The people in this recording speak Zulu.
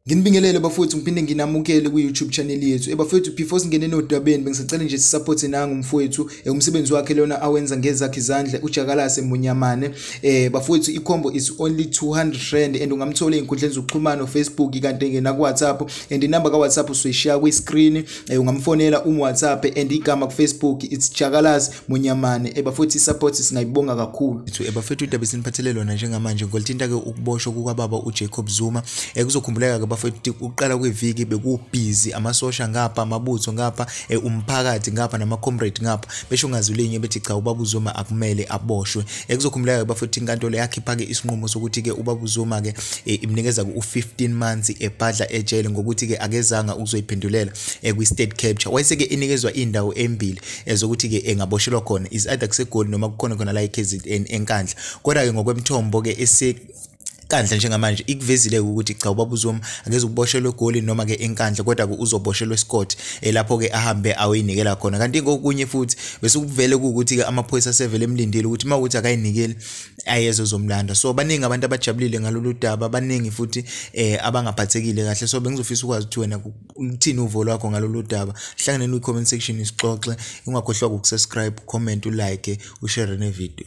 Nginibingelele bafowethu ngiphinde nginamukele ku-YouTube channel yethu. Ebafowethu eh, before singene nodabeni bengisacela nje sisupport nangu mfowethu eh, umsebenzi wakhe lona awenza ngezakhe izandla uJakalase Munyamane. Eh bafowethu ikhombo is only 200 rand and ungamthola ezinkundleni zokuxhumana Facebook kanti ngena ku WhatsApp and inamba ka WhatsApp usoyishiya kwi screen eh, ungamfonela um whatsapp and igama kufacebook it's jakalaz munyamane eba futhi support singayibonga kakhulu ethu eba futhi udaba esiniphathele lona njengamanje ngolithinta-ke ukuboshwa kukababa ujacob zuma um kuzokhumbuleka-ke bafethi ukuqala kweviki bekubhizi amasosha ngapha amabutho ngapha um umphakathi ngapha nama-comrade ngapha besho ngazi linye bethi cha ubaba uzuma akumele aboshwe Ekuzokhumbuleka bafethu inkantolo yakhipha ke isinqumo sokuthi ke ubaba uZuma ke e, imnikeza ku 15 months ebhadla ejele ngokuthi ke akezanga ukuzoyiphendulela e, kwi state capture. Wayese ke inikezwa indawo embili ezokuthi ke engaboshelwa khona is either kuseGoli noma kukhona khona la eKZN eNkandla. Kodwa ke ngokwemthombo ke ese inkandla njengamanje ikuvezile ukuthi cha ubaba uzomi angeze ukuboshelwe egoli noma ke inkandla kodwa ke uzoboshelwa esikoti elapho eh, ke ahambe aweyinikela khona kanti kokunye futhi bese ukuvele ukuthi ke amaphoyisa sevele emlindile ukuthi uma ukuthi akayinikeli ayeze uzomlanda so baningi abantu abajabulile ngalolu daba baningi futhi eh abangaphathekile kahle so bengizofisa ukwazi ukuthi wena uthini uvo lwakho ngalolu daba hlanganeni kwi comment section isixoxe ungakhohlwa ukusubscribe comment ulike ushare ne video